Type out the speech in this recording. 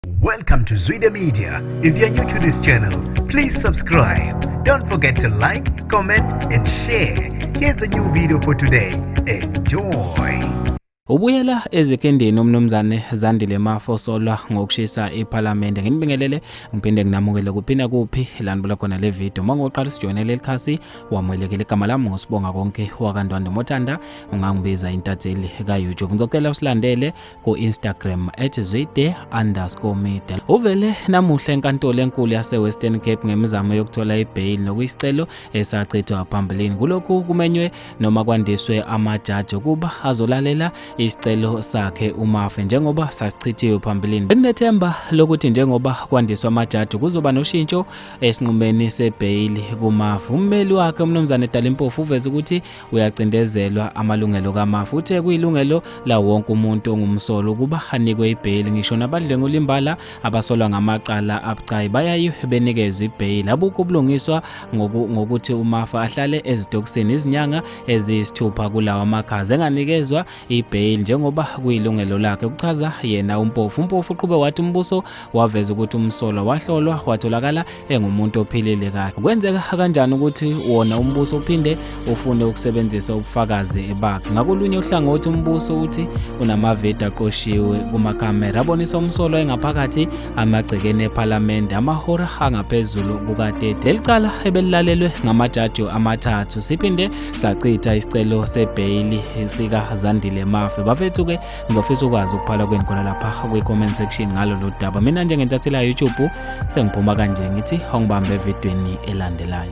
Welcome to Zwide Media. If you're new to this channel, please subscribe. Don't forget to like, comment and share. Here's a new video for today. Enjoy. Ubuyela ezikindeni umnumzane Zandile Mafo osolwa ngokushisa iPhalamende. Nginibingelele ngiphinde nginamukele kuphinda kuphi lanibula khona le video. Uma ngoqala sijoyine leli khasi wamwelekele igama lami ngosibonga konke wakandwanda Mothanda ungangibiza intatheli ka YouTube. Ngizocela usilandele ku-instagram at zwide underscore media uvele namuhla enkantolo enkulu yasewestern cape ngemizamo yokuthola ibheyili nokuyisicelo esachithwa phambilini kulokhu kumenywe noma kwandiswe amajaji ukuba azolalela isicelo sakhe umafe njengoba sasichithiwe phambilini bekunethemba lokuthi njengoba kwandiswa amajaji kuzoba noshintsho esinqumeni sebheyili kumafe ummeli wakhe umnumzane dalimpofu uveze ukuthi uyacindezelwa amalungelo kamafa uthe kuyilungelo lawo wonke umuntu ongumsolo ukuba anikwe ibheyili ngisho nabadlwengula imbala abasolwa ngamacala abucayi bayaye benikezwe ibheyili abukho ubulungiswa ngokuthi umafa ahlale ezitokisini izinyanga eziyisithupha kulawa makhaza enganikezwa ibail njengoba kuyilungelo lakhe kuchaza yena umpofu umpofu uqhube wathi umbuso waveza ukuthi umsolwa wahlolwa watholakala engumuntu ophilile kahle kwenzeka kanjani ukuthi wona umbuso uphinde ufune ukusebenzisa ubufakazi bakhe ngakolunye uhlangothi umbuso uthi unamavedi aqoshiwe kumakamera abonisa umsolwa engaphakathi amagcekeni ephalamende amahora angaphezulu kuka-30 leli cala ebelilalelwe ngamajaji amathathu siphinde sachitha isicelo sebheyili sikazandile mafe bafethu ke ngizofisa ukwazi ukuphala kweni khona lapha kwi-comment section ngalo lo daba mina njengentatheli yayoutube sengiphuma kanje ngithi ongibambe evidweni elandelayo